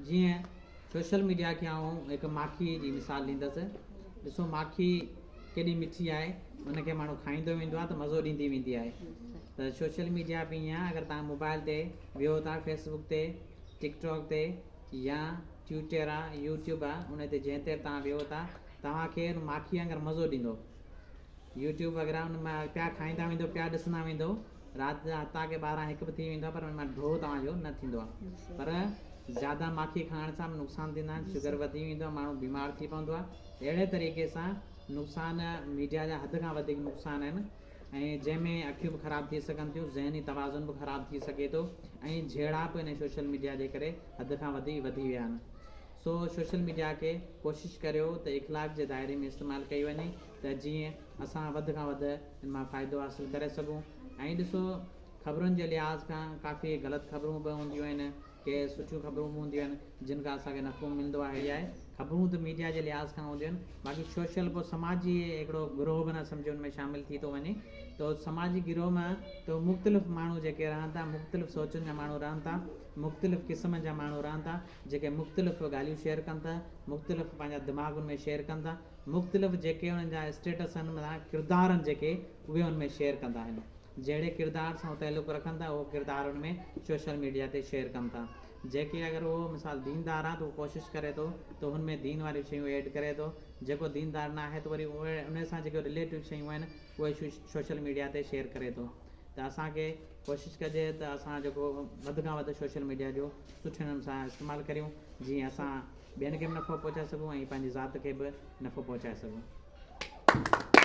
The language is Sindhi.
جيئن سوشل ميڊيا کي آئون هڪ ماکيء جي مثال ڏيندس. ڏسو ماکي ڪيڏي مٺي آهي، ان کي ماڻهو کائيندو ويندو آهي ته مزو ڏيندي ويندي آهي ته سوشل ميڊيا به ائين آهي اگر توهان موبائل تي ويهو ٿا فيس بڪ تي، ٽڪ ٽاڪ تي يا ٽيوٽر آ، يوٽيوب آ، ان تي جنهن تي به توهان ويهو ٿا توهان کي ان ماکيء وانگر مزو ڏيندو. يوٽيوب وغيره ان مان پيا کائيندا ويندو پيا ڏسندا ويندو رات جا هتا کي ٻارهن هڪ به ٿي ويندو آهي پر ان مان ڍو توهان جو نه ٿيندو آهي پر زياده ماکي کائڻ سان به نقصان ٿيندا آهن شگر وڌي ويندو آهي ماڻهو بيمار ٿي پوندو آهي اهڙي طريقي سان نقصان ميڊيا جا حد کان وڌيڪ نقصان آهن ۽ جنهن ۾ اکيون به خراب ٿي سگهن ٿيون ذهني توازن به خراب ٿي سگهي ٿو ۽ جهيڙاپ ان سوشل ميڊيا جي ڪري حد کان وڌي وڌي ويا آهن سو سوشل ميڊيا کي ڪوشش ڪريو ته اخلاق جي دائري ۾ استعمال ڪئي وڃي ته جيئن اسان وڌ کان وڌ ان مان فائدو حاصل ڪري سگهون ۽ ڏسو خبرن جي لحاظ کان ڪافي غلط خبرون به هونديون آهن ڪي سٺيون خبرون به هونديون آهن جن کان اسان کي نفعو ملندو آهي اهي خبرون ته ميڊيا جي لحاظ کان هونديون آهن باقي سوشل پوء سماجي هڪڙو گروهه بنهه سمجهو ان ۾ شامل ٿي ٿو وڃي ته سماجي گروهه مان ته مختلف ماڻهو جيڪي رهن ٿا مختلف سوچن جا ماڻهو رهن ٿا مختلف قسمن جا ماڻهو رهن ٿا جيڪي مختلف ڳالهيون شيئر ڪن ٿا مختلف پنهنجا دماغ ان ۾ شيئر ڪن ٿا مختلف جيڪي انهن جا اسٽيٽس آهن معنيٰ ڪردار آهن جيڪي اهي ان ۾ شيئر ڪندا آهن جهڙي ڪردار سان هو تعلق رکن ٿا اهو ڪردار ان ۾ سوشل ميڊيا تي شيئر ڪن ٿا جيڪي اگر اهو مثال ديندار آهي ته اهو ڪوشش ڪري ٿو ته هن ۾ دين واريون شيون ايڊ ڪري ٿو جيڪو ديندار نه آهي ته وري اهي ان سان جيڪو رليٽيو شيون آهن اهي سوشل ميڊيا تي شيئر ڪري ٿو ته اسان کي ڪوشش ڪجي ته اسان جيڪو وڌ کان وڌ سوشل ميڊيا جو سٺي نموني سان استعمال ڪريون جيئن اسان ٻين کي به نفعو پهچائي سگهون ۽ پنهنجي ذات کي به نفعو پهچائي سگهون.